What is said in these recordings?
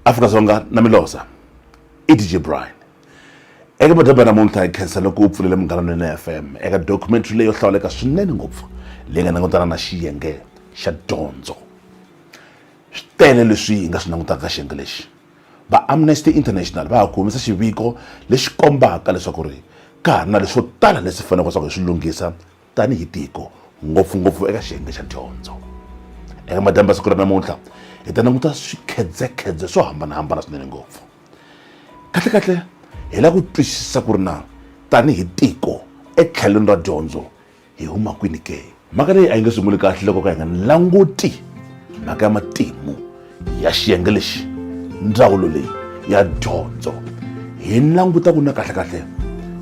afrika dzonga na milosa i dj brian eka madaba namuntlha hi khensa loko u pfulele munghananweni ya fm eka documentary leyo hlawuleka swinene ngopfu leyi nga langutana na xiyenge xa dyondzo swi tele leswi hi nga swi langutaka ka xiyenge lexi va amnesty international va ha ku humesa xiviko lexi kombaka leswaku ri ka ha ri na leswo tala leswi faneleke leswaku hi swi lunghisa tanihi tiko ngopfungopfu eka xiyenge xa dyondzo eka madyambu ya siku ra namuntlha hi ta languta swikhedzekhedze swo hambanahambana swinene ngopfu kahlekahle hi lava ku twisisa ku ri na tanihi tiko etlhelweni ra dyondzo hi huma kwini ke mhaka leyi a yi nge sunguli kahle loko ka hi nga languti mhaka ya matimu ya xiyenge lexi ndzawulo leyi ya dyondzo hi languta ku na kahlekahle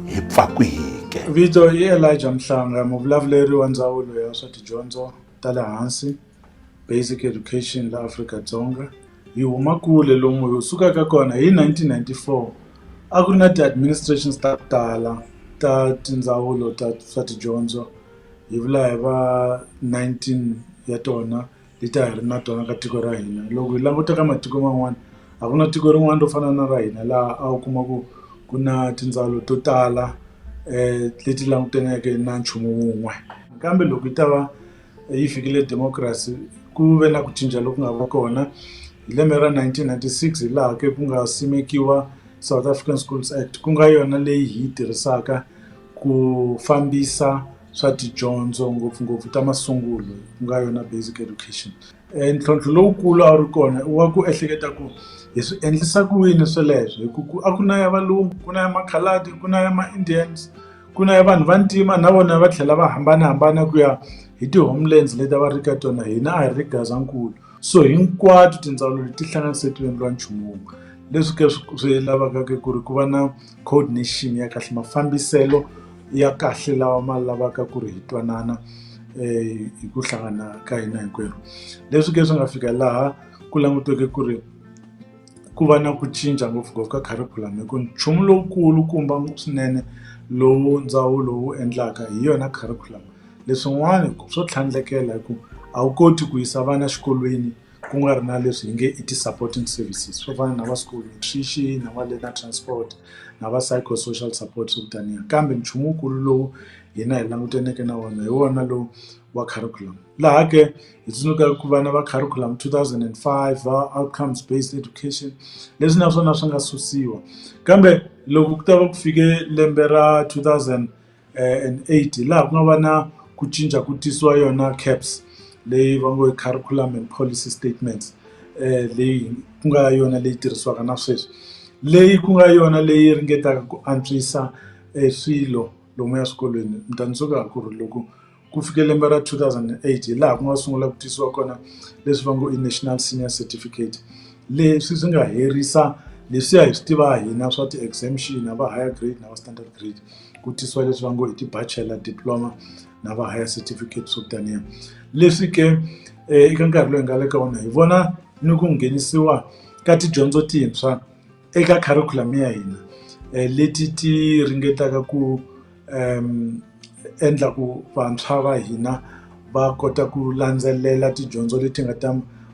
hi pfa kwihike vito i elijah mhlanga muvulavuleri wa ndzawulo ya swa tidyondzo ta le hansi basic education la afrika dzonga hi huma kule lomu hi sukaka kona hi 1994 a ku ri na ti-administrations ta ku tala ta tindzawulo ta swa tidyondzo hi vula hi va 19 ya tona hi ta hi ri na tona ka tiko ra hina loko hi languta ka matiko man'wana a ku na tiko rin'wana ro fana na ra hina laha a wu kuma ku ku na tindzawulo to tala um leti langutaneke na nchumu wun'we kambe loko yi ta va yi fikile democracy ku ve na ku cinca loku nga va kona hi lembe ra 1996 hi laha ke ku nga simekiwa south african schools act ku nga yona leyi hi yi tirhisaka ku fambisa swa tidyondzo ngopfungopfu ta masungulo ku nga yona basic education e ntlhontlho lowukulu a wu ri kona i wa ku ehleketa ku hi swi endlisa ku yini sweleswo hi ku ku a ku na ya valungu ku na ya makhaladi ku na ya ma-indians ku na ya vanhu va ntima na vona va tlhela va hambanahambana ku ya hi ti-homelands leti a va ri ka tona hina a hi ri gazankulu. So hinkwato tindzawulo leti tihlanganise ti endliwa nchumu wun'we leswi ke swi lavaka ke ku ri ku va na coordination ya kahle mafambiselo ya kahle lawa ma lavaka ku ri hi twanana um hi ku hlangana ka hina hinkwerhu leswi ke swi nga fika laha ku languteke ku ri ku va na ku cinca ngopfungopfu ka kharikhulamu hi ku nchumu lowukulu kumba swinene lowu ndzawulo wu endlaka hi yona kharikhulamu Leswin'wana swo tlhandlekela hi ku a wu koti ku yisa vana xikolweni ku nga ri na leswi hi nge i ti-supporting services swo fana na va school nutrition na va learner transport na va psycho social support swo taniya kambe nchumu wukulu lowu hina hi langutaneke na wona hi wona lowu wa curriculum laha ke hi tsundzukaka ku vana va curriculum two thousand and five va outcomes based education leswi naswona swi nga susiwa kambe loko ku ta va ku fike lembe ra two thousand. and eight hi laha ku nga va na ku cinca ku tisiwa yona CAPS leyi va ngo i Curriculum and Policy Statements leyi ku nga yona leyi tirhisiwaka na sweswi leyi ku nga yona leyi ringetaka ku antswisa e swilo lomuya swikolweni ni ta ni swo ku loko. Ku fike lembe ra two thousand and eight hi laha ku nga sungula ku tisiwa kona leswi va ngo i National Senior Certificate. Leswi swi nga herisa leswiya hi swi tiva hina swa ti-exemption na va higher grade na va standard grade, ku tisiwa leswi va ngo i ti-bachelor diploma na va higher certificate swo taniya. Leswi ke eka nkarhi lowu hi nga le ka wona hi vona ni ku nghenisiwa ka tidyondzo tintshwa. eka curriculum ya hina leti ti ringetaka ku endla ku vantshwa va hina va kota ku landzelela tidyondzo leti nga ta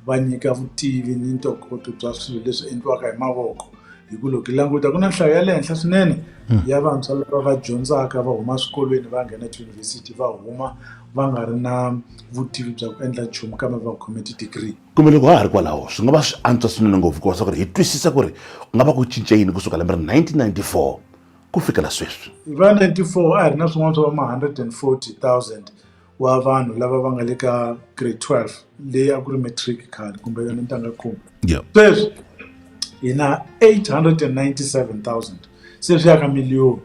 va nyika vutivi ni ntokoto bya swilo leswi endliwaka hi mavoko hi ku loko hi languta ku na nhlayo ya le henhla swinene hmm. ya vantshwa lava va dyondzaka va huma swikolweni va nghena tiyunivhesiti va huma va nga ri na vutivi bya ku endla nchumu kambe va khome ti-degree Kumbe loko ha ha ri kwalaho, swi nga va swi antswa swinene ngopfu ku va swa ku ri hi twisisa ku ri ku nga va ku cince yini ku suka lembe ra 1994 ku fikela sweswi. Hi va 94 a hi ri na swin'wana swa va ma 140,000 wa vanhu lava va nga le ka grade 12 leyi a ku ri matric khale kumbe yona ntanga khume. Sweswi hi na 897,000 se swi ya ka miliyoni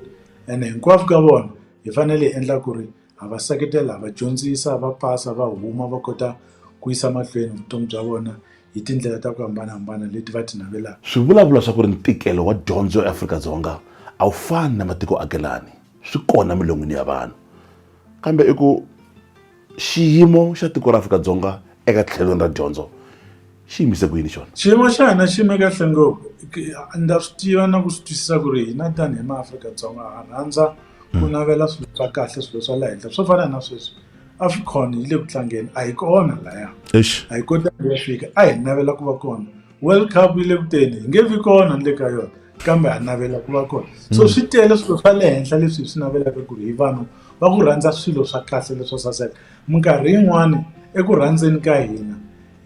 ene hinkwavo ka vona hi fanele hi endla ku ri. ha va seketela ha va dyondzisa va pasa va huma va kota ku yisa mahlweni vutomi bya vona hi tindlela ta ku hambanahambana leti va ti navelaka swi vulavula swa ku ri ntikelo wa dyondzo eAfrika-Dzonga a wu fani na matiko akelani swi kona milon'wini ya vanhu kambe i ku xiyimo xa tiko ra Afrika-Dzonga eka tlhelweni ra dyondzo xi yimise ku yini xona xiyimo xa hina xi yime kahle ngopfu ndza swi tiva na ku swi twisisa ku ri hina tanihi maafrika-dzonga ha rhandza ku hmm. navela swilo swa kahle swilo swa le henhla swo fana na sweswi africon yi le ku tlangeni a hi kona laya a hi kotanga ya fika a hi navela ku va kona world cup yi le ku teni hi nge vi kona ni le ka yona kambe ha navela ku va kona so hmm. swi tele swilo swa le henhla leswi hi swi navelaka ku ri hi vanhu va ku rhandza swilo swa kahle leswo saseka minkarhi yin'wani eku rhandzeni ka hina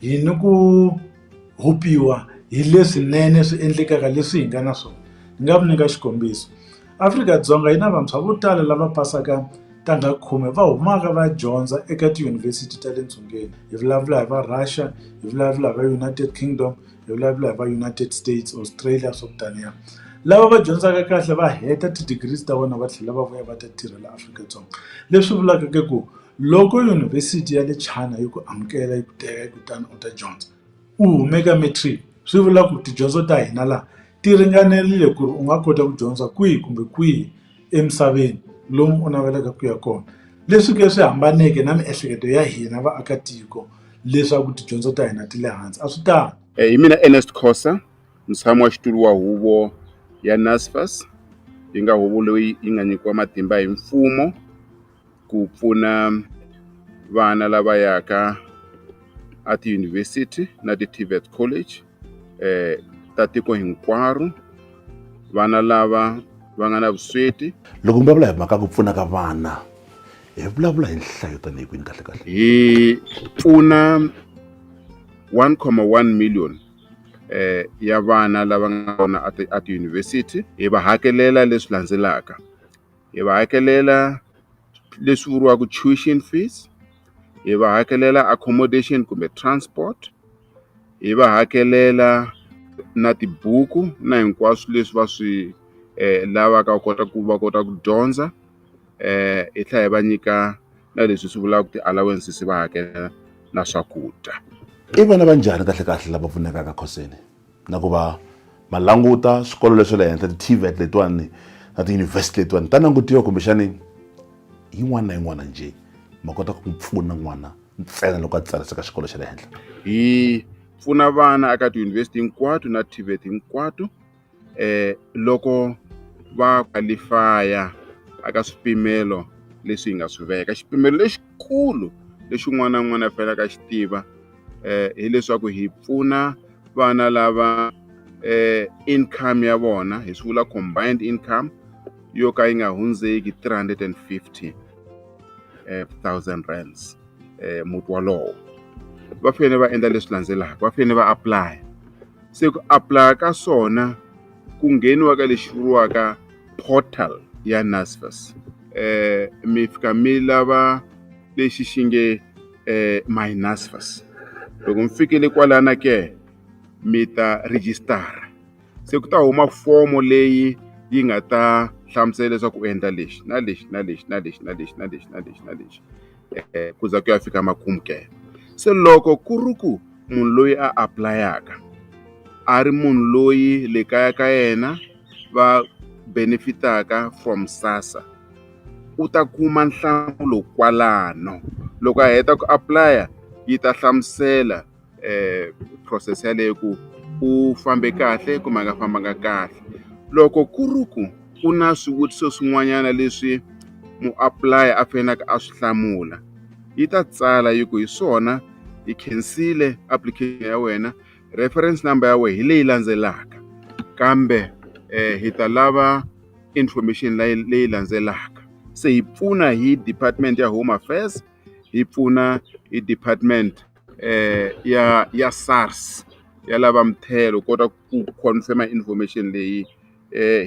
yini ku rhubiwa hi leswinene swi endlekaka leswi hi nga na swona ni nga mi nyika xikombiso Afrika-Dzonga yi na vantshwa vo tala lava pasaka ntangha khume va humaka va dyondza eka tiyunivhesiti ta le dzongeni hi vulavula hi va Russia hi vulavula hi va United Kingdom hi vulavula hi va United States Australia swo taniya lava va dyondzaka kahle va heta ti-degrees ta vona va tlhela va vuya va ta tirhela Afrika-Dzonga leswi vulaka ku. Loko Yunivhesiti ya le China yi ku amukela yi ku teka kutani u ta dyondza u hume ka matric swi vula ku tidyondzo ta hina laha ti ringanerile ku ri u nga kota ku dyondza kwihi kumbe kwihi emisaveni lomu u navelaka ku ya kona leswi ke swi hambaneke na miehleketo ya hina vaakatiko leswaku tidyondzo ta hina ti le hansi a swi tano eh, hi mina Ernest Khosa mutshami wa xitulu wa huvo ya NSFAS yi nga huvo leyi yi nga nyikiwa matimba hi mfumo ku pfuna vana lava yaka a tiyunivhesiti na ti-tvet college eh ta tiko hinkwaro vana lava va nga na vusweti loko mi vulavula hi mhaka ku pfuna ka vana hi vulavula hi nhlayo tanihi kwini kahle kahle hi pfuna 1,1 million eh ya vana lava nga kona a tiyunivhesiti hi va hakelela leswi landzelaka hi va hakelela leswi vuriwaka tuition fees hi va hakelela accommodation kumbe transport hi va hakelela na tibuku na hinkwaswo leswi va swi eh, lavaka kota ku va kota ku dyondza eh hi tlhela hi va nyika na leswi swi vulaka ti-allowances va hakela na swakudya i vana va njhani kahlekahle lava pfunekaka khoseni na ku va ma languta swikolo leswa le henhla ti-tvet letiwani na tiyunivhesiti letiwani ta langutiwa kumbexani yin'wana na yin'wana njhe ma kota ku pfuna n'wana ntsena loko a tsariseka xikolo xa le henhla hi pfuna vana eka tiyunivhesiti hinkwato na tvet hinkwato um loko va kwalifaya aka swipimelo leswi hi nga swi veka xipimelo lexi lexikulu lexi un'wana na un'wana a faneleke a xi tiva um hileswaku hi pfuna vana lava um income ya vona hi swi vula combined income yo ka yi nga hundzeki 350 um thousand rands um muti wolowo va fanele va endla leswi landzelaka va fanele va apply se ku apply ka swona ku ngheniwa ka lexi vuriwaka portal ya NSFAS eh mi fika mi lava lexi xi nge eh my NSFAS loko mi fikile kwalana ke mi ta register se ku ta huma fomo leyi yi nga ta hlamusela leswaku u endla lexi na lexi na lexi na lexi na lexi na lexi na lexi na lexi. eh, ku za ku ya fika makumu ke se loko ku ri ku munhu loyi a aplayaka a ri munhu loyi le kaya ka yena va benefitaka from sasa u ta kuma nhlamulo kwalano loko a heta ku aplaya yi ta hlamusela eh process yaleyo ku u fambe kahle kumbe a nga fambanga kahle loko ku ri ku ku na swivutiso swin'wanyana leswi muapply a faneleke a swi hlamula yi ta tsala yi ku hi swona yi khensile application ya wena reference number ya wena hi leyi landzelaka kambe eh, hi ta lava information leyi landzelaka se hi pfuna hi department ya home affairs hi pfuna hi department ya ya SARS ya lava muthelo u kota ku confirm-a information leyi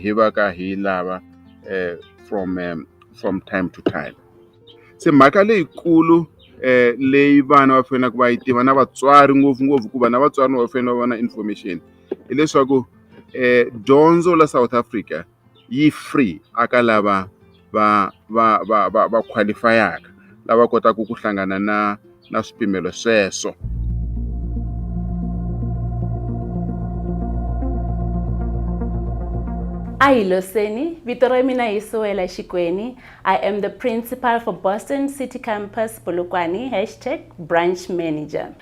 hi va ka hi yi lava from from time to time. Se mhaka leyikulu leyi vana va faneleke va yi tiva na vatswari ngopfungopfu hikuva na vatswari va fanele va va na information hileswaku dyondzo la South Africa. yi free a ka lava va va va va va qualify-aka lava kotaka ku hlangana na na swipimelo sweswo a hi loseni vito ra mina hi suwela xikweni i am the principal for boston city campus polokwane hashtag branch manager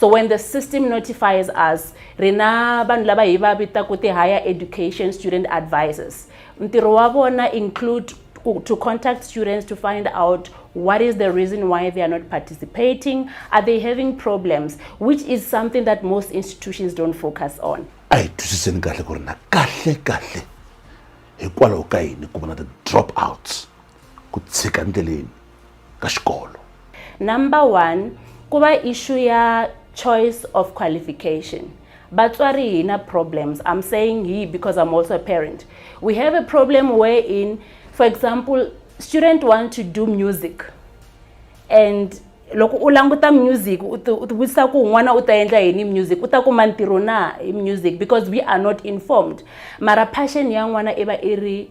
so when the system notifies us ri na vanhu lava hi va vitaka ti-higher education student advisors ntirho wa vona include to contact students to find out what is the reason why they are not participating are they having problems which is something that most institutions don't focus on a hi twisiseni kahle ku ri na kahle kahle hikwalaho ka yini ku va na ti-drop outs ku tshika ndleleni ka xikolo number one ku va issue ya choice of qualification vatswari hi na problems i'm saying he because i'm also a parent we have a problem where in for example student want to do music and loko u languta music u tivutisa ku n'wana u ta endla yini music u ta kuma ntirho na hi music because we are not informed mara passion ya n'wana i va i ri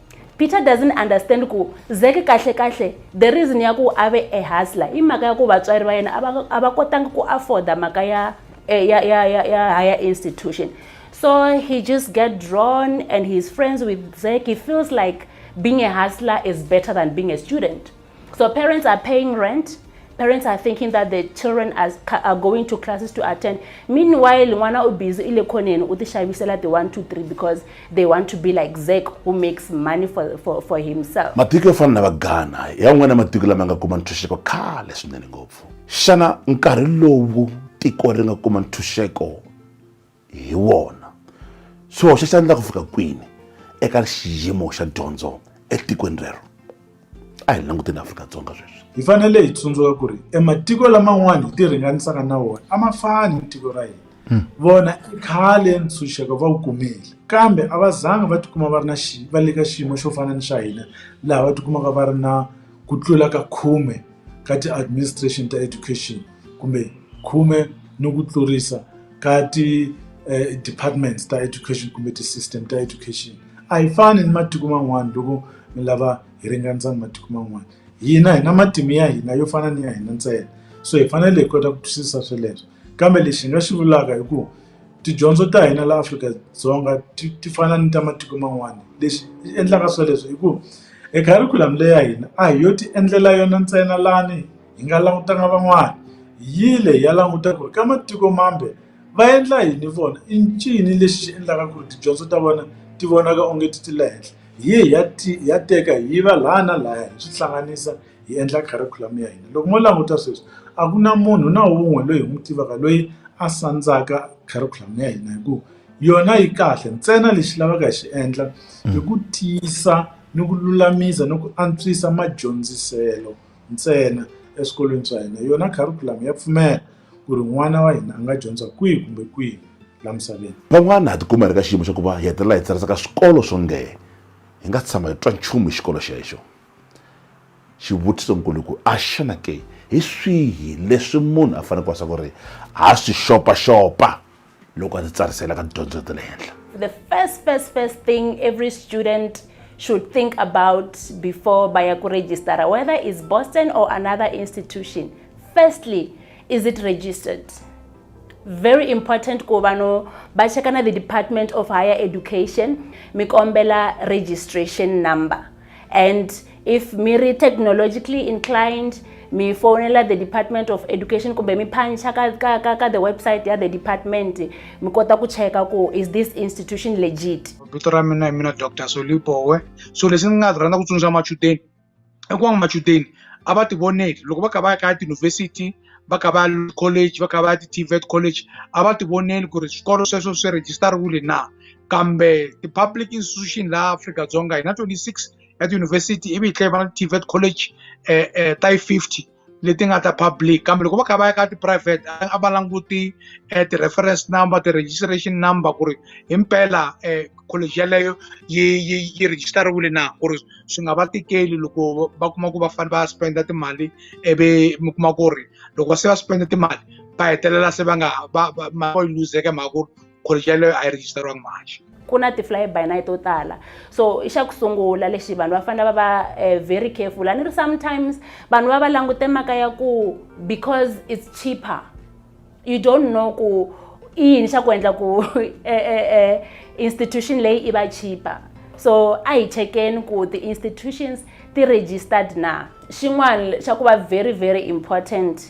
peter doesn't understand ku zeke kahle kahle the reason ya ku a ve a hustler i mhaka ya ku vatswari va yena a va kotanga ku afforda mhaka ya eh, ya ya ya ya higher institution so he just get drawn and he's friends with zek he feels like being a hustler is better than being a student So parents are paying rent. Parents are thinking that the children are, are going to classes to attend. Meanwhile, mwana u busy ile khoneni u tishavisela the 1 2 3 because they want to be like Zek who makes money for for, for himself. Matiko yo fana na va Ghana, ya n'wana matiko lama nga kuma ntshunxeko khale swinene ngopfu. Xana nkarhi lowu tiko ri nga kuma ntshunxeko hi wona swi hoxa xandla ku fika kwini eka xiyimo xa dyondzo etikweni rero a hi languteni afrika-dzonga sweswi hi fanele hi tsundzuka ku ri ematiko laman'wana hi ti ringanisaka na wona a ma fani ni tiko ra hina hmm. vona i khale ntshunxeko va wu kumile kambe a va zanga va tikuma va ri na xi va le ka xiyimo xo fana ni xa hina laha va tikumaka va ri na ku tlula ka khume ka ti-administration ta education kumbe khume ni ku tlurisa ka ti eh, departments ta education kumbe ti-system ta education a hi fani ni matiko man'wana loko mi lava hi ringanisa ni matiko man'wana hina hi na matimu ya hina yo fana ni ya hina ntsena so hi fanele hi kota ku twisisa sweleswo kambe lexi hi nga xi vulaka hi ku tidyondzo ta hina la afrika-dzonga ti ti fana ni ta matiko man'wana lexi xi endlaka sweleswo hi ku e curriculum leya hina a hi yo ti endlela yona ntsena lani hi nga langutanga van'wana hi yile hi ya languta ku ri ka matiko mambe va endla yini vona i ncini lexi xi endlaka ku ri tidyondzo ta vona ti vonaka onge ti ti le henhla hi ye hi ya hi ya teka hi yiva laya na laya hi swi hlanganisa hi endla curriculum ya hina loko mo languta sweswi a ku na munhu na wun'we loyi hi n'wi tivaka loyi a sandzaka curriculum ya hina hi ku yona yi kahle ntsena lexi lavaka hi xi endla hi ku tiyisa ni ku lulamisa ni ku antswisa madyondziselo. ntsena eswikolweni swa hina yona curriculum ya pfumela ku ri n'wana wa hina a nga dyondza kwihi kumbe kwihi la misaveni van'wana ha tikuma hi ri ka xiyimo xa ku va hi hetelela hi tsarisa ka swikolo swo nge hi nga tshama hi twa nchumu hi xikolo xexo xivutiso nkulu ku a xana ke hi swihi leswi munhu a fanele ku wasa ku ri ha swi xopaxopa loko a ndzi tsarisela ka tidyondzo ta le henhla the first first first thing every student should think about before by a register, whether it's Boston or another institution. Firstly, is it registered? very important ku vanhu va cheka na the department of higher education mi kombela registration number and if mi ri technologically inclined mi fonela the department of education kumbe mi phancha ka, ka, ka, ka the website ya the department mi kota ku cheka ku is this institution legit vito ra mina hi mina dr solibowe so leswi ni nga rhandza ku tsundzuxa machudeni i ku va machudeni a va tivoneli loko va kha va ya ka tiyunivhesiti va kha va ya college va kha va ya ti-tvet college a va tivoneli ku ri swikolo sweswo swi rejistariwile na kambe ti-public institution laha afrika-dzonga hi na 26 ya tiyunivhesiti ivi hi tlhela va na ti-tvet college um um ta yi fifty leti nga ta public kambe loko va kha va ya ka tiphurayivhete a va languti um ti-reference number ti-registration number ku ri hi mpela um college yeleyo yi yi yi rejistariwile na ku ri swi nga va tikeli loko va kuma ku va fanele va spenda timali ivi mi kuma ku ri loko va se va spenda timali va hetelela se va nga va va yi luzeke mhaka ku ri college yaleyo a yi registeriwanga mahaxi ku na ti-fly by night to tala so i xa ku sungula lexi vanhu va fanele va va eh, very careful a ni ri sometimes vanhu va va langute maka ya ku because it's cheaper you don't know ku i yini xa ku endla ku eh, eh, institution leyi i va cheaper so a hi chekeni ku ti-institutions ti-registered na xin'wana xa ku va very very important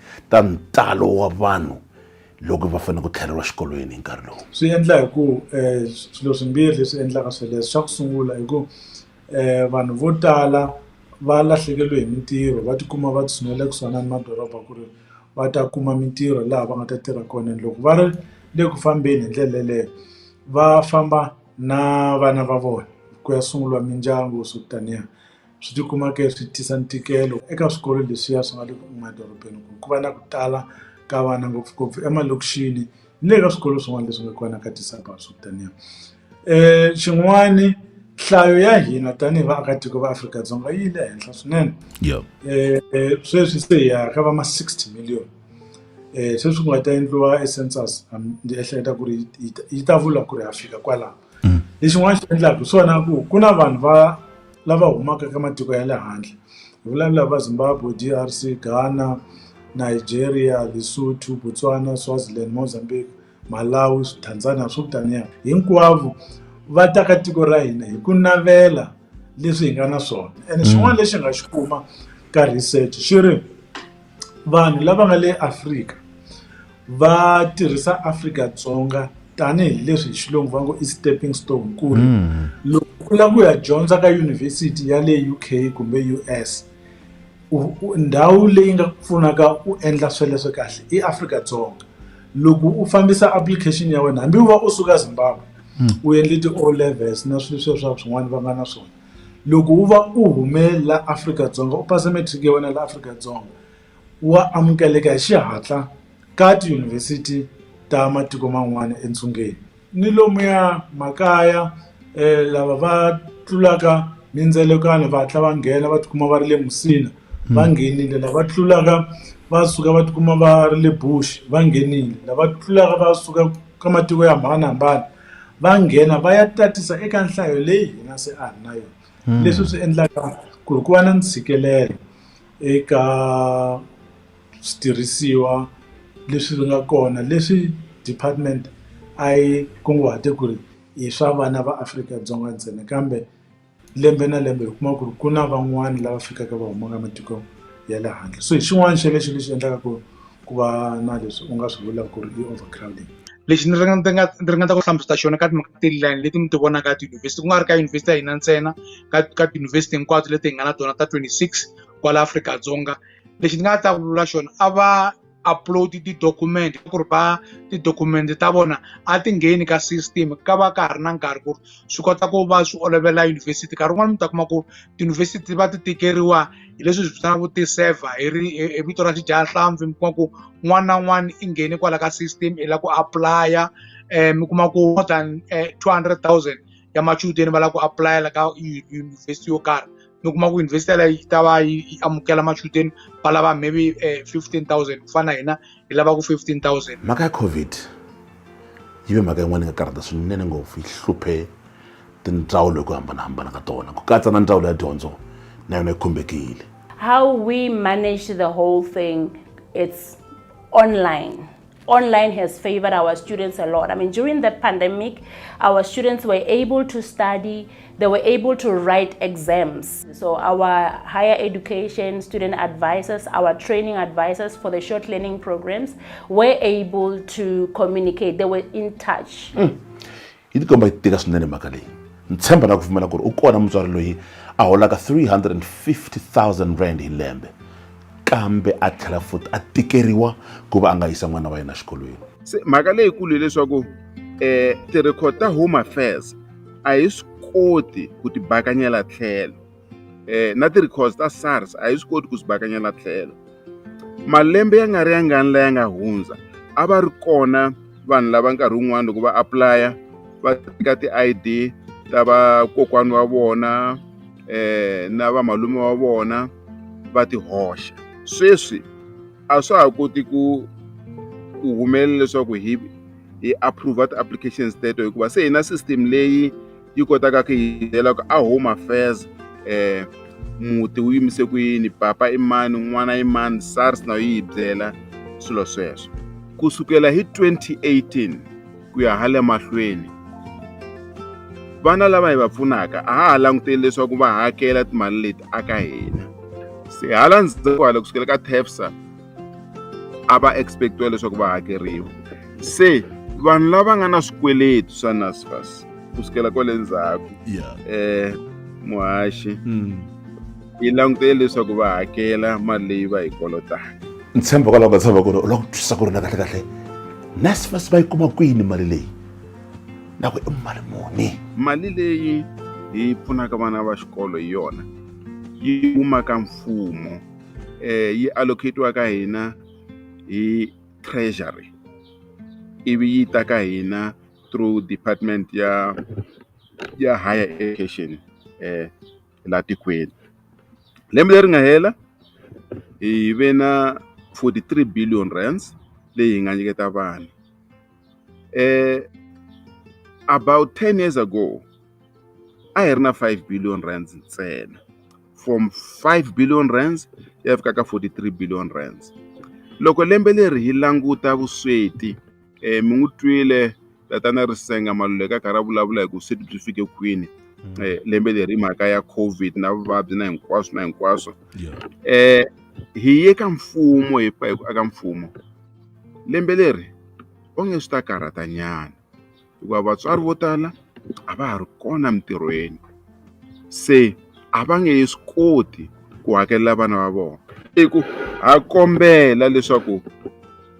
ta ntalo wa vanhu loko va fanele ku tlheleriwa xikolweni hi nkarhi lowu swi endla hi ku um swilo swimbirhi leswi endlaka sweleswo xa ku sungula hi ku um vanhu vo tala va lahlekeriwe hi mintirho va tikuma va tshinele kusuhana ni madoroba ku ri va ta kuma mintirho laha va nga ta tirha kona and loko va ri le ku fambeni hi ndlela yeleyo va famba na vana va vona ku ya sunguriwa mindyangu swo taniya swi ti kuma ke swi tisa ntikelo eka swikolo leswiya swi nga le emadorobeni ku ku va na ku tala ka vana ngopfungopfu emalokixini ni le ka swikolo swin'wana leswi nga kona ka ti-suburbs swo taniya xin'wani nhlayo ya hina tanihi vaakatiko va Afrika-Dzonga yi le henhla swinene sweswi se hi ya ka va ma sixty million sweswi ku nga ta endliwa e census ni ehleketa ku ri yi ta vula ku ri ha fika kwalano. mm. lexin'wana xi endlaka hi swona ku ku na vanhu va lava humaka ka matiko ya le handle hi vulavula va zimbabwe d r c ghana nigeria lesotho botswana swaziland mozambique malawi tanzania swo taniya hinkwavo va ta ka tiko ra hina hi ku navela leswi hi nga na swona and mm. xin'wana lexi nga xi kuma ka research xi ri vanhu lava nga le afrika va tirhisa Afrika-Dzonga tanihileswi hi xilungu va ngo i stepping stone ku ri hmm. loko u lava ku ya dyondza ka yunivhesiti ya le u k kumbe u s ndhawu leyi nga ku pfunaka u endla sweleswo kahle i Afrika-Dzonga loko u fambisa application ya wena hambi u va u suka Zimbabwe hmm. u endle ti-o levels na swilo sweswo swa swin'wana va nga na swona loko u va u hume la Afrika-Dzonga u pasa matric ya wena la Afrika-Dzonga wa amukeleka hi xihatla ka tiyunivhesiti ta matiko man'wana entsungeni ni lomuya makaya um lava va tlulaka mindzelekano va hatla va nghena va tikuma va ri le musina va nghenile lava tlulaka va suka va tikuma va ri le bush va nghenile lava tlulaka va suka ka matiko yo hambanahambana va nghena va ya tatisa eka nhlayo leyi hina se a hi na yona leswi swi endlaka ku ri ku va na ntshikelelo. eka switirhisiwa leswi nga kona leswi department a yi kunguhate ku ri i swa vana va Afrika-Dzonga ntsena kambe lembe na lembe hi kuma ku ri ku na van'wani lava fikaka va humaka matiko ya le handle so hi xin'wani xa lexi ni xi endlaka ku. ku va na leswi u nga swi vula ku ri i over crowding. Lexi ni ringeta ku hlamusela xona ka timhaka ti line leti mi ti vonaka ka tiyunivhesiti ku nga ri ka yunivhesiti ya hina ntsena ka ka tiyunivhesiti hinkwato leti hi nga na tona ta 26 kwala Afrika-Dzonga lexi ni nga ta ku vula xona a va upload ti-document ku ri va ti-document ta vona a ti ngheni ka system ka va ka ha ri na nkarhi ku ri swi kota ku va swi olovela yunivhesiti nkarhi wun'wani mi ta kuma ku tiyunivhesiti va ti tikeriwa hi leswi hi vitanaku ti-server hi ri hi vito ra xidyahlampfi mi kuma ku n'wana na n'wana i nghene kwala ka system i lava ku apulaya um mi kuma ku more than eh, two hundred thousand ya machudeni va lava ku apulayela ka yunivhesiti yo karhi mi kuma ku yunivhesiti yaleyo yi ta va yi amukela machudeni va lava maybe eh, fifteen thousand ku fana na hina yi lava ku 15000 mhaka ya covid yi ve mhaka yin'wana yi nga karhata swinene ngopfu yi hluphe tindzawulo hi ku hambanahambana ka tona ku katsa na ndzawulo ya dyondzo na yona yi khumbekile how we manage the whole thing it's online online has favored our students a lot. I mean, during the pandemic, our students were able to study they were able to write exams. So our higher education student advisors, our training advisors for the short learning programs were able to communicate. They were in touch. Mm. yi tikomba yi tika swinene mhaka leyi ni tshemba na ku pfumela ku ri u kona mutswari loyi a holaka 350000 rand hi lembe kambe a tlhela futi a tikeriwa ku va a nga yisa n'wana wa yena xikolweni se mhaka leyikulu hileswaku um eh, ti-record ta home affairs a hi swi koti ku tibakanyela tlhelo eh na ti records ta SARS a hi swi koti ku swi bakanyela tlhelo malembe ya nga ri ya ngani laya nga hundza a va ri kona vanhu lava nkarhi wun'wana loko va aplaya va teka ti-id ta vakokwani wa vona eh na vamalume wa vona va ti hoxa sweswi a swa ha koti ku ku humelela leswaku hi hi approve ti-applications teto hikuva se hi na system leyi yi kotaka ku hi byela ku a home affairs um muti wu yimise ku yini papa i mani n'wana i mani sars na yi hi byela swilo sweswo ku sukela hi 2018 ku ya hale mahlweni vana lava hi va pfunaka a ha ha languteli leswaku va hakela timali leti aka hina se hala ndzhaku hala kusukela ka tafsa a va expectiwa leswaku va hakeriwa se vanhu lava nga na swikweleti swa nasfas ku sukela kwale ndzhaku eh muhaxi hmm. yi langutele leswaku va hakela mali leyi va yi kolotaka ni tshemba kwalaho ka tshava ku ri u lava ku twisisa ku ri na kahle kahle nasfas va yi kuma kwini mali leyi na ku i mali muni mali leyi yi pfunaka vana va xikolo hi yona yi humaka mfumo eh yi allocatiwa ka hina hi treasury ivi yi ta ka hina through department ya ya higher education eh la tikweni lembe leri nga hela hi ve na 43 billion rands leyi hi nga nyiketa vanhu eh about ten years ago a hi ri na five billion rands ntsena from five billion rands ya fika ka forty three billion rands loko lembe leri hi languta vusweti um mi n'wi twile tatana ri senga maluleka a karhi a vulavula hi ku vusweti byi fike kwini um lembe leri hi mhaka ya covid na vuvabyi na hinkwaswo na hinkwaswo um hi ye ka mfumo hi pfa hi ku aka mfumo Lembe leri onge swi ta karhatanyana hikuva vatswari vo tala a va ha ri kona mintirhweni se a va nge swi koti ku hakelela vana va vona i ku ha kombela leswaku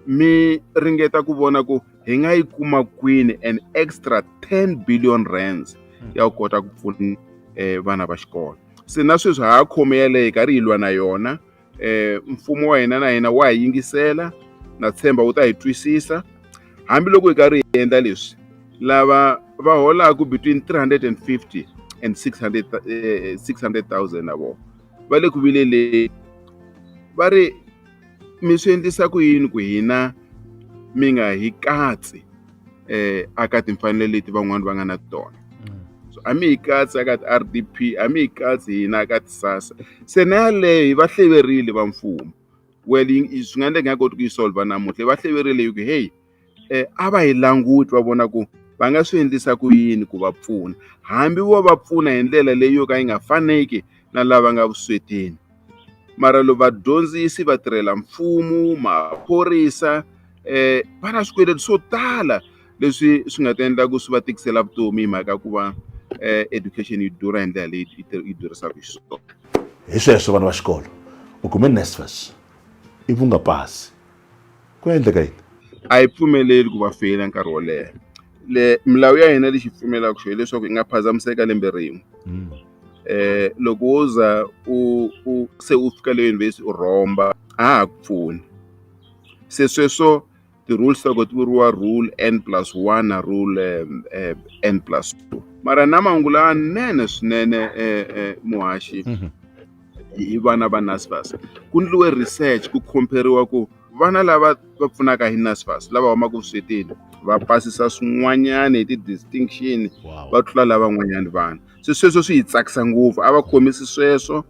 mi ringeta ku vona ku hi nga yi kuma kwini an extra ten billion rands ya ku kota ku pfuna um vana va xikolo se na sweswi ha ha khome yaleyo hi karhi hi lwa na yona eh mfumo wa hina na hina wa hi yingisela na tshemba wu ta hi twisisa hambiloko hi karhi hi endla leswi lava va holaka between 350 and 600 eh, 600,000 na vona va le ku vileleni va ri mi swi endlisa ku yini ku hina mi nga hi katsi eh aka timfanelo leti van'wana va nga na tona mm. so a mi hi katsi aka ti-rdp a mi hi katsi hina aka ti-sasa se na yaleyo hi va hleverile va mfumo well swi nga endleka nga koti ku yi solva namuntlha hi va hleverile hi ku hey um a va hi languti va vona ku va nga swi endlisa ku yini ku va pfuna hambi vo va pfuna hi ndlela leyi yo ka yi nga faneki na lava nga vuswetini. Mara loko vadyondzisi, vatirhela mfumo, maphorisa eh va na swikweleti swo tala leswi swi nga ta endla ku swi va tikisela vutomi hi mhaka ku va eh education yi durha hi ndlela leyi yi durhisaka xiswona. Hi sweswo vana va xikolo u kume NSFAS ivi u nga pasi. ku nga endleka yini a yi pfumeleli ku va feyila nkarhi wo leha le milawu ya hina lexi pfumelaka xo hileswaku yi nga phazamiseka lembe rin'we um loko wo za u u se u fika le yunivhesiti u rhomba a ha ku pfuni se sweswo ti-rules ta ko ti vuriwa rule n plus one na rule um n plus two mara na mahungu lawanene swinene um muhaxi mhm. hi vana va NSFAS. Ku endliwe research ku khomperiwa ku vana lava va pfunaka hi NSFAS lava humaka vuswetini va pasisa swin'wanyana hi ti-distinction va tlula lavan'wanyana vana se sweswo swi hi tsakisa ngopfu a va khomisi sweswo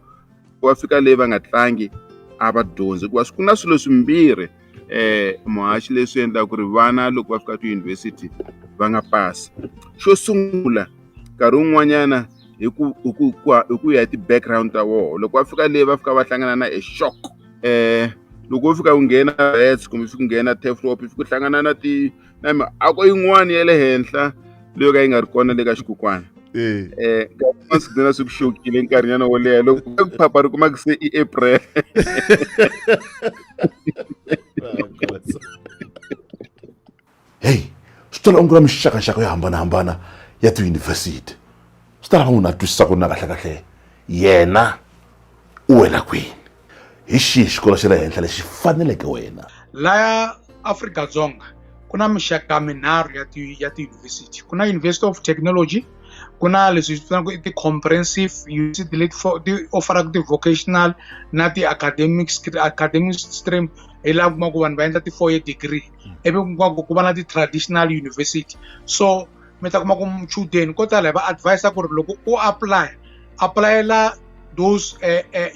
ku va fika leyi va nga tlangi a va dyondzi hikuva ku na swilo swimbirhi eh muhaxi leswi endlaka ku ri vana loko va fika tiyunivhesiti va nga pasi xo sungula nkarhi wun'wanyana hi ku hi ku hi ku ya hi ti-background ta woho loko va fika leyi va fika va hlangana na e shock um loko wo fika u nghena rats kumbe fika nghena teflop fika u hlangana na ti na miako yin'wana ya le henhla leyo ka yi nga ri kona le ka xikukwana um eh, swidzana swi ku xokile nkarhinyana wo leha loko ku phapha ri kumaka se i april heyi swi tola onge ra mixakaxaka yo hambanahambana ya tiyunivhesiti swi ta lava munhu a twisisaka na kahlekahle yena u wela kwini Hi xihi xikolo xa le henhla lexi faneleke wena? Laya Afrika-Dzonga ku na mixaka minharhu ya ti ya tiyunivhesiti ku na university of technology ku na leswi hi vitanaka i ti-comprehensive university leti ti offeraka ti-vocational na ti-academic academic stream hi laha kumaku vanhu va endla ti-four year degree hmm. ivi kumaku ku va na ti-traditional university so mi ta kuma ku muchudeni ko tala hi va advisa ku ri loko u apply aplayela those uh, uh,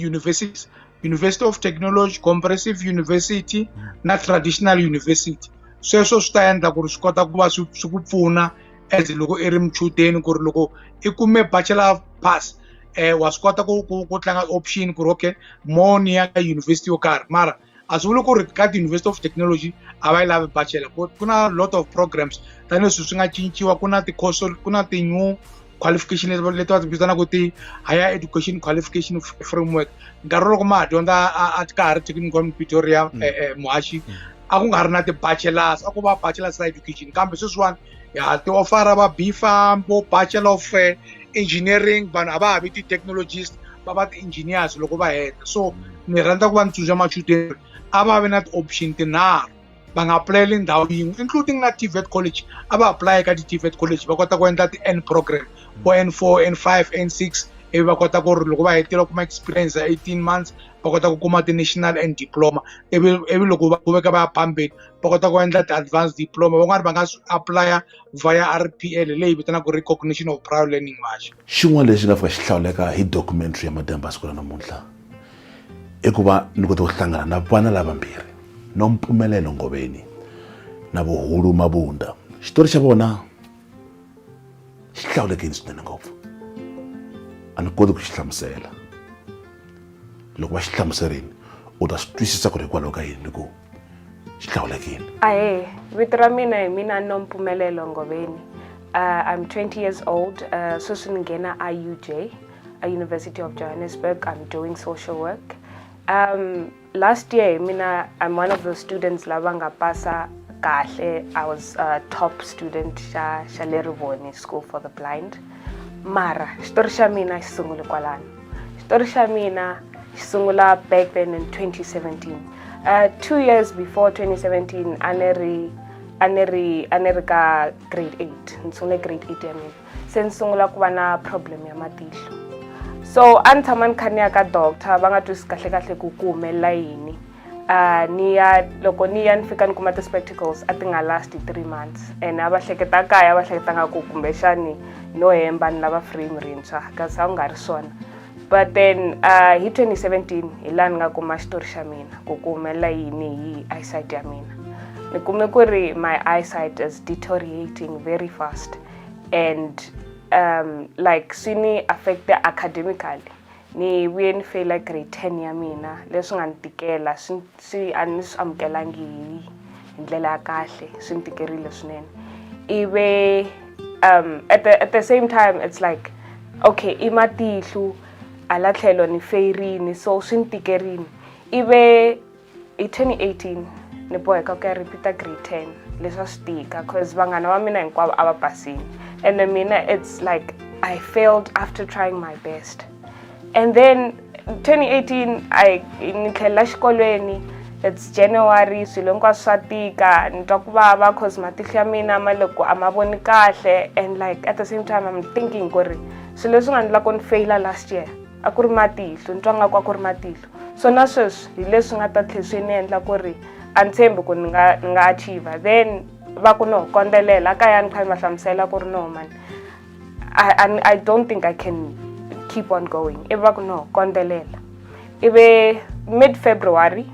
universities university of technology comprehensive university na traditional university sweswo swi ta endla ku ri swi kota ku va swi swi ku pfuna as loko i ri muchudeni ku ri loko i kume bachelor of pass um wa swi kota ku ku ku tlanga option ku ri okay mo ni ya ka university yo karhi mara a swi vuli ku ri ka ti-university of technology a va yi lavi bachelor ku na lot of programs tanihileswi swi nga cinciwa ku na ti-course ku na ti-new qualification leti leti va ti vitanaka ti higher education qualification framework nkarhi loko ma ha dyondza a ka ha ri technical pretoria mm. eh, eh, muhaxi mm. a ku nga ri na ti-bachelors a ku va bachelors ra education kambe sweswiwani ya ti ofara va b farm vo bachelor of eh, engineering vanhu a va ha vi ti-technologist va va ti-engineers loko va heta so ni rhandza ku va ni tsundzuxa machudeni a va vi na ti-option tinharhu va nga apulayeli ndhawu yin'we including na tvet college a va apulayela ka ti-tvet college va kota ku endla ti-n program vo n four n five n six ivi va kota ku ri loko va hetile kuma experience ya eighteen months va kota ku kuma ti-national and diploma ivi ivi loko va kuveka va ya phambeni va kota ku endla ti-advanced diploma van'wani va nga swi aplaya via r p l leyi vitanaka recognition of prior learning march xin'wana lexi nga fika xi hlawuleka hi documentary ya mademba siku ra namuntlha i ku va ni kota ku hlangana na vana lavambirhi no mpfumelelo ngoveni na vuhulu mabunda xitori xa vona xi hlawulekile swinene ngopfu a ni koti ku xi hlamusela loko va xi hlamuserini u ta swi twisisa ku ri hikwalaho ka yini ni ku xi hlawulekile ahe vito ra mina hi mina no mpfumelelo ngoveni uh, i'm 20 years old uh, sweswi ni nghena iuj a university of johannesburg i'm doing social work um last year hi mina i'm one of the students lava nga pasa kahle i was a top student xa xa le rivoni school for the blind mara xitori xa mina xi sungule kwalano xitori xa mina xi sungula back then in 2017 uh, two years before 2017 a ni ri a ni ri a ni ri ka grade 8 ni sungule grade 8 ya mina se ni sungula ku va na problem ya matihlo so a ni tshama ni kha ni ya ka doctor va nga twisi kahle kahle ku ku humelela yini uh, ni ya loko ni ya ni fika ni kuma ti-spectacles a ti nga last three months and a va hleketa kaya va hleketa nga ku kumbexani no hemba ni lava frame rintshwa kasi a ku nga ri swona but then uh, hi 2017 hi laha ni nga kuma xitori xa mina ku ku humelela yini hi eyesight ya mina ni kume ku ri my eyesight is deteriorating very fast and um like swi ni affecta academically ni vuye ni feyila grade ten ya mina leswi nga ni tikela swi swi a ni swi amukelangi hi hi ndlela ya kahle swi ni tikerile swinene ive um at the, at the same time it's like okay i matihlu hala tlhelo ni feyirini so swi ni tikerini ive hi 2018 ni boheka ku ya repeata grade 10 leswi a swi tika cause vanghana va mina hinkwavo a va basile and then mina it's like i failed after trying my best and then 2018 i ni tlhelela xikolweni it's january swilo hinkwaswo swa tika ni twa ku vava cause matihlo ya mina ma loko a ma voni kahle and like at the same time i'm thinking ku ri swilo leswi nga ni lako ni feyila last year a ku ri matihlo ni twa nga ku a ku ri matihlo so na sweswi hi leswi nga ta tlhe swi ni endla ku ri a ni tshembi ku ni nga ni nga achiever then va ku no kondzelela kaya ni kha ni va hlamusela ku ri no mani I, I don't think I can keep on going ivi va ku no kondzelela ivi mid february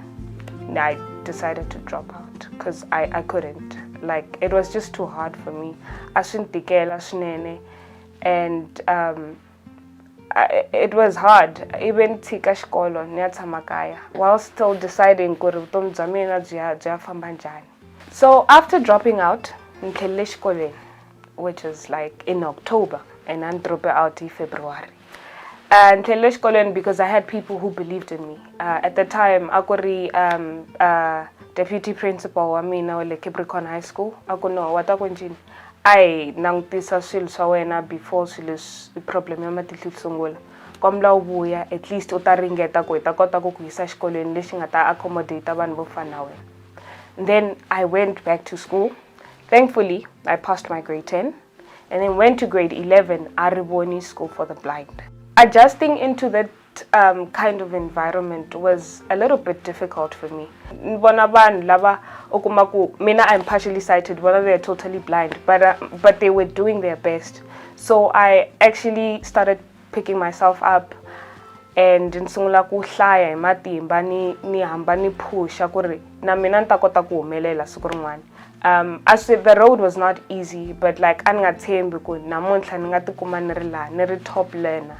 i decided to drop out because I, i couldn't like it was just too hard for me a swi ni tikela swinene and um, it was hard ive ni tshika xikolo ni ya tshama kaya while still deciding ku ri vutomi bya mina byi ya byi ya famba njhani so after dropping out ni tlhelele xikolweni which is like in october and a ni drope out hi february uh, ni tlhelele xikolweni because i had people who believed in me uh, at the time a ku ri um, uh, deputy principal wa mina wa le capricorn high school a ku no wa ta ku njini A hi langutisa swilo swa wena before swilo leswi problem ya matihlo yi sungula kombela u vuya at least u ta ringeta ku hi ta kota ku ku yisa exikolweni lexi nga ta accommodate vanhu vo fana na wena then i went back to school thankfully i passed my grade 10 and then went to grade 11 a ri voni school for the blind adjusting into that um, kind of environment was a little bit difficult for me ni vona vanhu lava u kuma ku mina i'm partially sighted vona they're totally blind but, uh, but they were doing their best so i actually started picking myself up and ni sungula ku hlaya hi matimba ni ni hamba ni phusha ku ri na mina ni ta kota ku humelela siku rin'wana um as the road was not easy but like a ni nga tshembi ku namuntlha ni nga tikuma ni ri laha ni ri top learner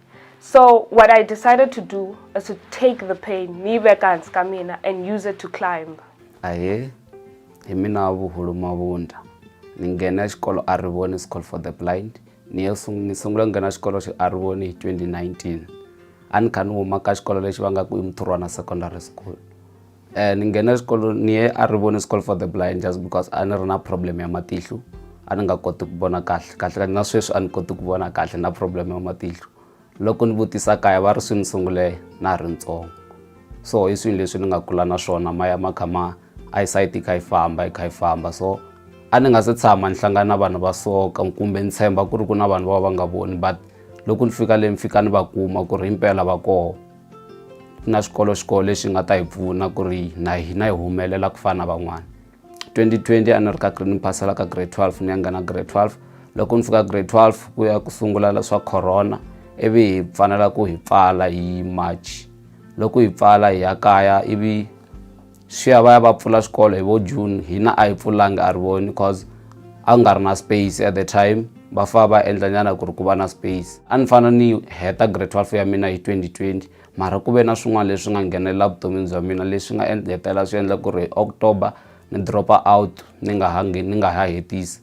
so what i decided to do is to take the pain ni veka hansi ka mina and use it to climb ahe hi mina wa vuhulu mavundla ni nghena xikolo a rivoni school for the blind ni ya ni sungula nghena xikolo xi a rivoni hi 2019 a ni kha ni huma ka xikolo lexi va nga ku i muthurwana secondary school Eh, ni nghena xikolo ni ye a ri vone school for the blind just because a ni ri na problem ya matihlo a ni nga koti ku vona kahle kahle na sweswi a ni koti ku vona kahle na problem ya matihlo loko ni vutisa kaya va ri swi ni sungule na ha ri ntsongo so hi swilo leswi ni nga kula na swona ma ya ma kha ma eyesight yi kha yi famba yi kha yi famba so a ni nga se tshama ni hlangana na vanhu va soka kumbe ni tshemba ku ri ku na vanhu va va nga voni but loko ni fika le ni fika ni va kuma ku ri himpela va koho na swikolo swikolo leswi nga ta hi pfuna ku ri na hina hi humelela ku fana na van'wana 2020 a ni ri ka ni phasela ka grade 12 ni ya nghena grade 12 loko ni fika grade 12 ku ya ku sungula swa corona ivi hi fanela ku hi pfala hi march loko hi pfala hi ya kaya ivi swi ya va ya va pfula swikolo hi vo june hina a hi pfulanga a ri voni because a ku nga ri na space at the time va fa va endla nyana ku ri ku va na space a ni fana ni heta grade 12 ya mina hi 2020 mara ku ve na swin'wana leswi nga nghenelela vutomini bya mina leswi nga hetelela swi endla ku ri october ni dropa out ni nga ha ni nga ha hetisi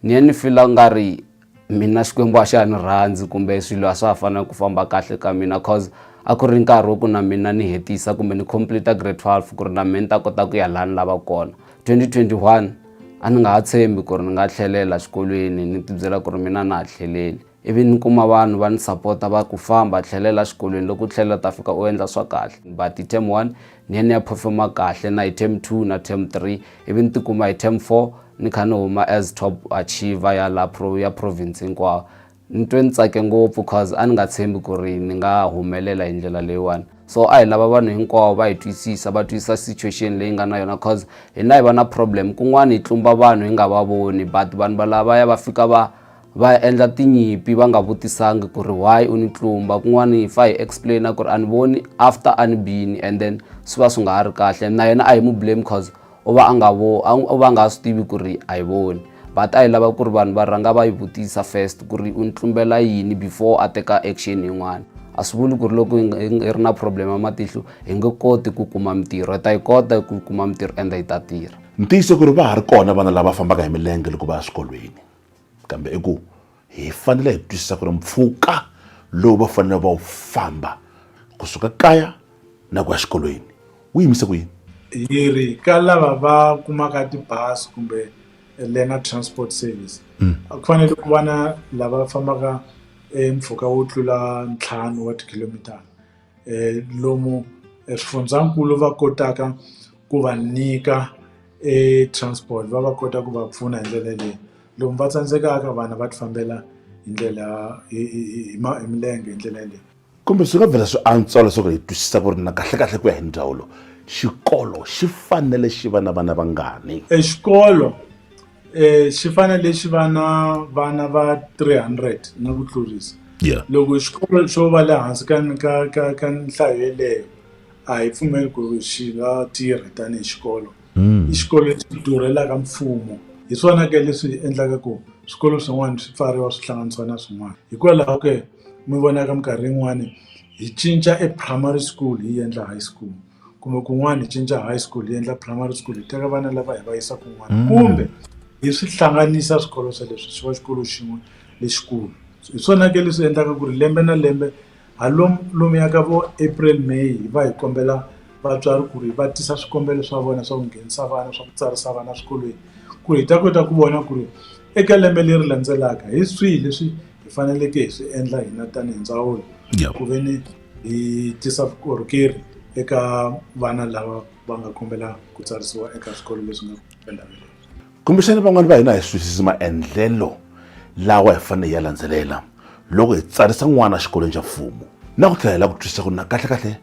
ni ye ni fila nga ri mina xikwembu a xa ni rhandzi kumbe swilo a swa ha fana ku famba kahle ka mina cause a ku ri nkarhi wa ku na mina ni hetisa kumbe ni complete grade 12 ku ri na mina ni ta kota ku ya laha ni lava kona 2021 a ni nga ha tshembi ku ri ni nga tlhelela xikolweni ni tibyela ku ri mina na ha tlheleli ivi ni kuma vanhu va ni sapota va ku famba tlhelela xikolweni loko u tlhelela ta fika u endla swa kahle but hi term one ni ni ya performa kahle na hi term 2 na term 3 ivi ni tikuma hi term 4 ni kha ni huma as top achiever ya la pro ya province hinkwawo ni twe ni tsake ngopfu cause a ni nga tshembi ku ri ni nga humelela hi ndlela leyiwani so a hi lava vanhu hinkwavo va hi twisisa va twisisa situation leyi nga na yona cause hina hi va na problem kun'wana hi tlumba vanhu hi nga va voni but vanhu valavaya va fika va va endla tinyimpi va nga vutisangi ku ri why u ni tlumba kun'wana hi fa hi explaina ku ri a ni voni after a ni bini and then swi va swi nga ha ri kahle na yena a hi mu blame cause u va a nga vo u va nga ha swi tivi ku ri a yi voni but a hi lava ku ri vanhu va rhanga va yi vutisa first ku ri u ni tlumbela yini before a teka action yin'wana a swi vuli ku ri loko hi ri na problem ya matihlo hi nge koti ku kuma mintirho hi ta yi kota ku kuma mintirho ende yi ta tirha ntiyiso ku ri va ha ri kona vana lava fambaka hi milenge loko va ya swikolweni kambe i ku hi fanele hi twisisa ku ri mpfhuka lowu va fanele va wu famba kusuka kaya na ku ya xikolweni wu yimise ku yini hi ri ka lava va kumaka tibazi kumbe lena transport service hmm. a ku fanele ku va na lava fambaka e mpfhuka wo tlula ntlhanu wa tikhilomitara lomu eswifundzakulu va kotaka ku va nyika e transport va va kota ku va pfuna hi ndlela leyi lomu va tsandzekaka vana va ti fambela hi ndlela hi hi hi hi ma hi milenge hi ndlela yaleyo kumbe swi nga vhela swi antswa leswaku hi twisisa ku ri na kahlekahle ku ya hi ndzawulo xikolo xi fanele xi va na vana vangani exikolo xi fanele xi va na vana va 300 na ku tlurisa yeah loko xikolo xo va le hansi ka ka ka ka nhlayo yeleyo a hi pfumeli ku ri xi nga tirhi tanihi xikolo i xikolo lexi durhelaka mfumo hi swona ke leswi endlaka ku swikolo swin'wana swi pfariwa swi hlanganisiwa na swin'wana hikwalaho ke mi vonaka minkarhi yin'wani hi cinca e primary school hi yendla high school kumbe kun'wana hi cinca high school hi endla primary school hi teka vana lava hi va yisa kun'wana mm. kumbe hi swi hlanganisa swikolo swa leswi swi va xikolo xin'we lexikulu hi swona ke leswi endlaka ku ri lembe na lembe halomu lomu ya ka vo april may hi va hi kombela vatswari ku ri va tisa swikombelo swa vona swa ku nghenisa vana swa ku tsarisa vana swikolweni ku ri hi ta kota ku vona ku ri eka lembe leri landzelaka hi swihi leswi hi faneleke hi swi endla hina tanihi ndzawulo ku ve ni yi tisa vukorhokeri eka vana lava va nga kombela ku tsarisiwa eka swikolo leswi nga endhawini leyi kumbexana van'wani va hina hi swisisi maendlelo lawa hi fanele hi ya landzelela loko hi tsarisa n'wana xikolweni xa mfumo na ku tlhela hi lava ku twisisa ku na kahlekahle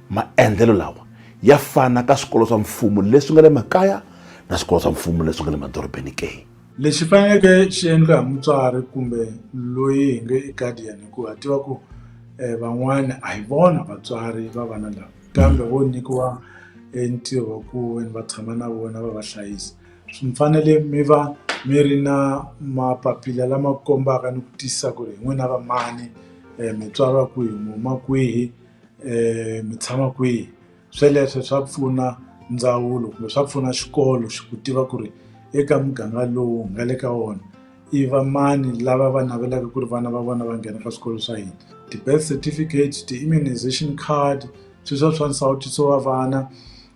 maendlelo lawa ya fana ka swikolo swa mfumo leswi nga le makaya na swikolo swa mfumo leswi nga le madorobeni ke Lexi faneleke xi endla hi mutswari kumbe loyi hi nge i guardian hikuva a tiva ku um van'wana a hi vona vatswari va vana lava kambe vo nyikiwa e ntirho wa ku ve ni va tshama na vona va va hlayisa swi mi fanele mi va mi ri na mapapila lama kombaka ni ku tiyisisa ku ri hi n'wina va mani um mi tswala kwihi mi huma kwihi um mi tshama kwihi. Sweleswo swa pfuna ndzawulo kumbe swa pfuna xikolo xi ku tiva ku ri eka muganga lowu nga le ka wona i vamani lava va navelaka ku ri vana va vona va nghena ka swikolo swa hina ti-birth certificate ti-immunization card swi swa swa nsawutiso wa vana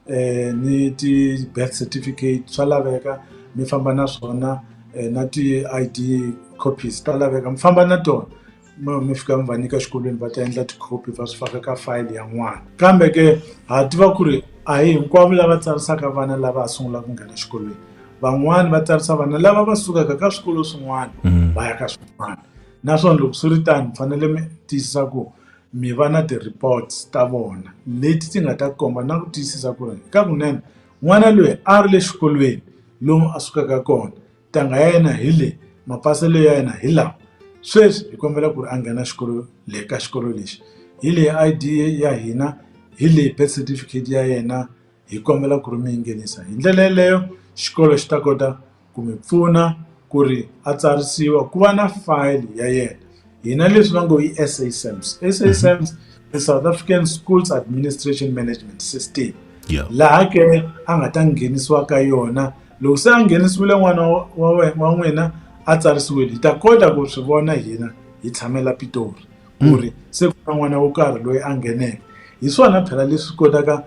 um ni ti-birth certificate swa laveka mi famba na swona na ti-I_D copies ta laveka mi famba na tona. mi mi fika mi va nyika exikolweni va ta endla tikhopi va swi faka ka fayili ya n'wana kambe ke ha tiva ku ri a hi hinkwavo lava tsarisaka vana lava ha sungulaka ku nghena exikolweni van'wani va tsarisa vana lava va sukaka ka swikolo swin'wana mm. va ya ka swin'wana naswona loko swi ri tani fanele mi tiyisisa ku mi va na ti-reports ta vona leti ti nga ta komba na ku tiyisisa ku ri ka kunene n'wana loyi a ri le xikolweni lomu a sukaka kona Ntangha ya yena hi leyi, mapaselo ya yena hi lawa. Sweswi hi kombela ku ri a nghena xikolo le ka xikolo lexi. Hi leyi I_D ya hina, hi leyi birth certificate ya yena, hi kombela ku ri mi yi nghenisa. Hi ndlela yeleyo xikolo xi ta kota ku mi pfuna ku ri a tsarisiwa ku va na file ya yena. Hina leswi va ngo i S_A SAMS. S_A SAMS i South African Schools Administration Management System. Laha ke a nga ta nghenisiwa ka yona. Loko se a nghenisiwile n'wana wa wena wa n'wina a tsarisiwile hi ta kota ku swi vona hina hi tshamela Pitori ku hmm. ri se ku na n'wana wo karhi loyi a ngheneke hi swona phela leswi kotaka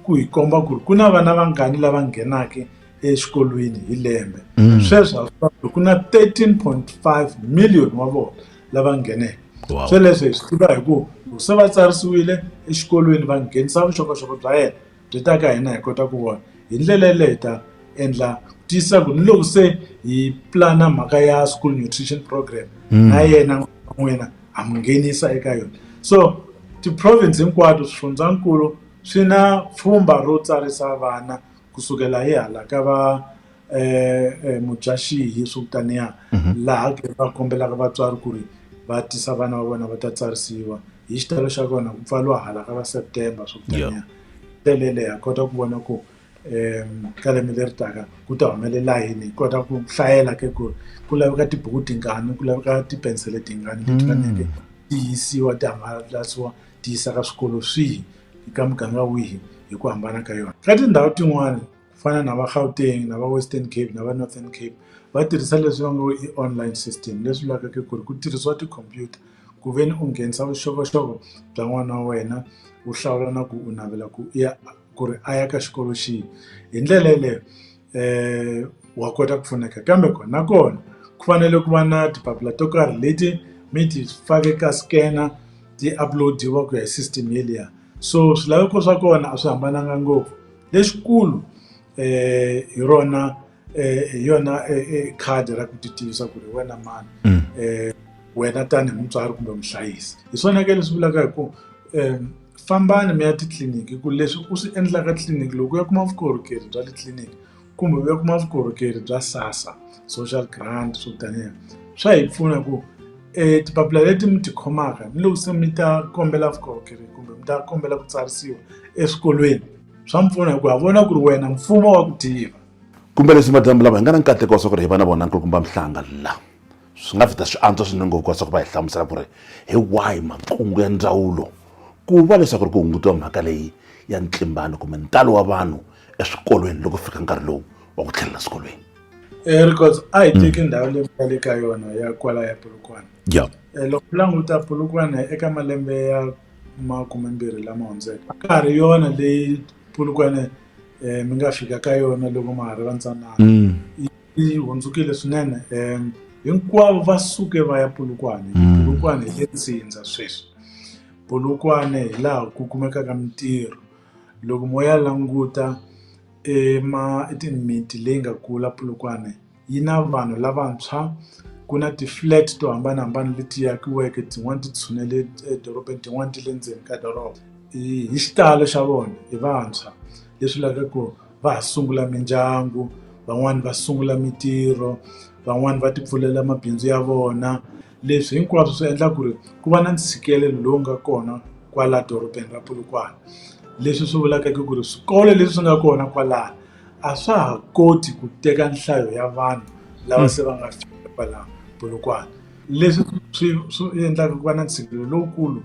ku hi komba ku ri ku na vana vangani lava nghenaka exikolweni hi lembe hmm. sweswo ku na 13.5 million wa vona lava ngheneke sweleswo hi swi tiva hi ku se va tsarisiwile exikolweni va nghenisa vuxokoxoko bya yena byi ta ka hina hi kota ku vona hi ndlela yaleyo hi ta endla tiyisisa ku ni loko se hi plana mhaka ya school nutrition program hmm. na yena n'wina ha mu nghenisa eka yona so ti-province hinkwato swifundzankulu swi na pfhumba ro tsarisa vana kusukela hi hala ka va um mudyaxihi swo taniya mhm. laha ke va kombelaka vatswari ku ri va tisa vana va vona va ta tsarisiwa hi xitalo xa kona ku pfaliwa hala ka va september swo taniya telele ha kota ku vona ku um ka lembe leri taka ku ta humelela yini hi kota ku hlayela ke ku ku laveka tibuku tingani ku laveka tipensele tingani leti mm. faneke ti yisiwa ti hangalasiwa ti yisa ka swikolo swihi ka muganga wihi hi ku hambana ka yona ka tindhawu tin'wana ku fana na va Gauteng na va Western Cape na va Northern Cape va tirhisa leswi va ngo i online system leswi vulaka ku ri ku tirhisiwa tikhompyuta ku ve ni u nghenisa vuxokoxoko bya n'wana wa wena u hlawula na ku u navela ku ya ku ri a ya ka xikolo xihi hi ndlela yeleyo wa kota ku pfuneka kambe kona nakona ku fanele ku va na tipapila to karhi leti mi ti fake ka scanner ti upload-iwa ku ya hi system yeliya so swilaveko swa kona a swi hambananga ngopfu. Lexikulu hi rona hi yona khadi ra ku titivisa ku ri hi wena mani wena tanihi mutswari kumbe muhlayisi hi swona ke leswi vulaka hi ku fambani mi ya titliliniki ku leswi u swi endlaka tliliniki loko u ya kuma vukorhokeri bya le tliliniki kumbe u ya kuma vukorhokeri bya SASSA. social grant swo taniya swa hi pfuna ku e tipapila leti mi ti khomaka ni loko se mi ta kombela vukorhokeri kumbe mi ta kombela ku tsarisiwa eswikolweni swa mi pfuna hikuva vona ku ri wena mfumo wa ku tiva kumbe leswi madamu lava hi nga na nkateko wa swa ku ri hi va na vona nkulukumba mihlanga la swi nga vita swi antswa swinene ngopfu ka swa ku va hi hlamusela ku ri hi wahi makungu ya ndzawulo ku va leswaku ri ku hungutiwa mhaka leyi ya ntlimbano kumbe ntalo wa vanhu eswikolweni loko fika nkarhi lowu wa ku tlhelela swikolweni Eh, records a hi teki mm. ndhawu leyi nga le ka yona ya kwala ya polokwane ya eh, loko u languta polokwane eka malembe ya makumembirhi lama hundzeke ka ha ri yona leyi polokwane um mi nga fika ka yona loko ma ha ri vantsanana mm. yi hundzukile swinene um hinkwavo va suke va ya polokwane mm. polokwane hi le ntsindza sweswi polokwane hi laha ku kumekaka mintirho loko mo ya languta i mimiti leyi nga kula Polokwane yi na vanhu lavantshwa ku na ti-flat to hambanahambana leti akiweke tin'wani ti tshunele edorobeni tin'wani ti le ndzeni ka doroba hi xitalo xa vona hi vantshwa leswi lavaka ku va ha sungula mindyangu van'wani va sungula mintirho van'wani va ti pfulela mabindzu ya vona. Leswi hinkwaswo swi endla ku ri ku va na ntshikelelo lowu nga kona kwala dorobeni ra Polokwane leswi swi vulaka ku ku ri swikolo leswi nga kona kwalaho a swa ha koti ku teka nhlayo ya vanhu lava se va nga fika kwala Polokwane leswi swi swi endlaka ku va na ntshikelelo lowukulu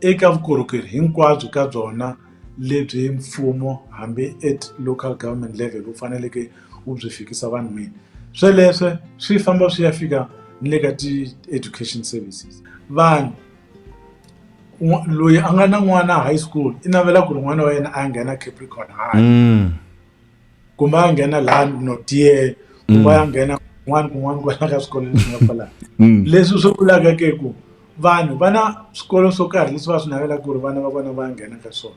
eka vukorhokeri hinkwabyo ka byona. lebyi mfumo hambi at local government level wu faneleke wu byi fikisa vanhwini sweleswo swi famba swi ya fika ni le ka ti-education services vanhu loyi a nga na n'wana high school i navela ku ri n'wana wa yena a ya nghena capricorn high kumbe a nghena laha no tiya kumbe a nghena kun'wana kun'wana kwala ka swikolo leswi nga kwala mm. leswi swi vulaka ke ku vanhu vana swikolo swo karhi leswi va swi navelaka ku ri vana va vona va nghena ka swona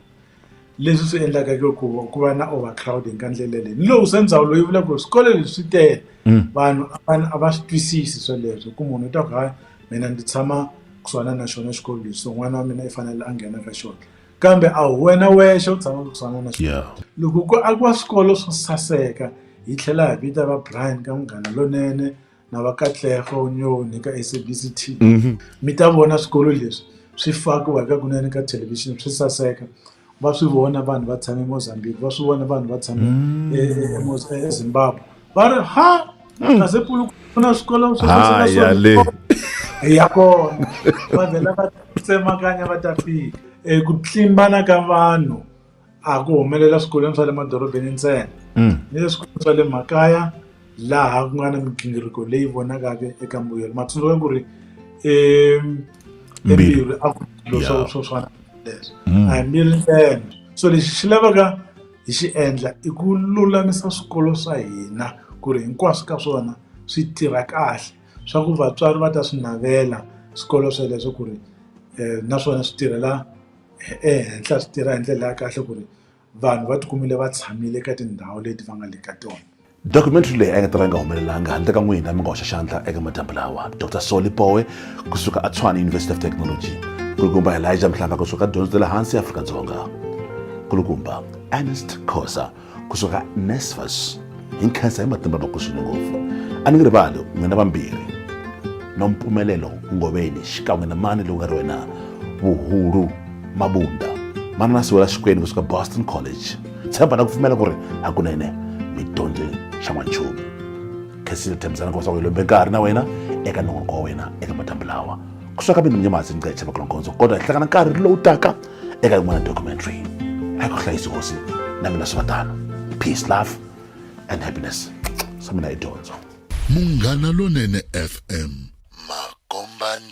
leswi swi endlaka ke ku ku va na overcrowding ka ndlela leyi ni lowu se ndzawulo yi vula ku ri swikolo leswi swi tele mm. vanhu a va swi twisisi sweleswo ku munhu u ta ku hayi mina ndzi tshama kusuhana na xona xikolo lexi so n'wana wa mina i fanele a nghena ka xona kambe a hi wena wexe u tshama ku tshwana na yeah. loko ku akiwa swikolo swo saseka hi tlhela hi vita va brian ka munghana lonene na va katlego nyoni ka sabc t mm -hmm. mi ta vona swikolo leswi swi fakiwa ka kunene ka thelevhixini swi saseka va swi vona vanhu va tshame emozambique va swi vona vanhu va tshame mm. ezimbabwe e, e, e, va ri ha hmm. kasi pulu ku na swikolo swaya le ya kona va vhela va tsemakanya va ta fika um ku tlimbana ka vanhu a ku humelela swikolweni swa le madorobeni ntsena hmm. ni le swikolweni swa le makaya laha ku nga na migingiriko leyi vonakaka eka mbuyelo matsundzuka ku ri embirhi a ku swilo swa swo swana leswo hmm. a hi mbirhi ntsena so lexi xi lavaka hi xi endla i ku lulamisa swikolo swa hina ku ri hinkwaswo ka swona swi tirha kahle swa ku vatswari va ta swi navela swikolo sweleswo ku ri um naswona swi tirhela ehenhla swi tirha hi ndlela ya kahle ku ri vanhu va ti kumile va tshamile ka tindhawu leti va nga le ka tona. documentary leyi a yi nga ta va yi nga humelelanga handle ka n'wina mi nga hoxa xandla eka madyambu lawa dr soli powe kusuka atshwana university of technology kulukumba elijah mhlanga kusuka dyondzo ta le hansi afrika-dzonga kulukumba ernest khosa kusuka nesfas hi nkhensa hi matimba ma kuswini ngopfu a ni ngi rivali n'wina vambirhi no mpfumelelo ngoveni xikan'we na mani lowu nga ri wena vuhulu mabunda manana siwela xikwenu kusuka boston college tshemba na ku pfumela ku ri hakunene mi dyondze xa n'wanchumu khesile tshembisana ku leswaku hi lombe nkarhi na wena eka nongonoko wa wena eka madyambu lawa ku swaka mina mnyamasi ni nga hi chevaka longondzo kodwa hi hlangana nkarhi lowu taka eka yin'wana documentary hi ku hlayisi hosi na mina swi va tano peace love and happiness swa mina hi dyondzo munghana lonene fm makombandlela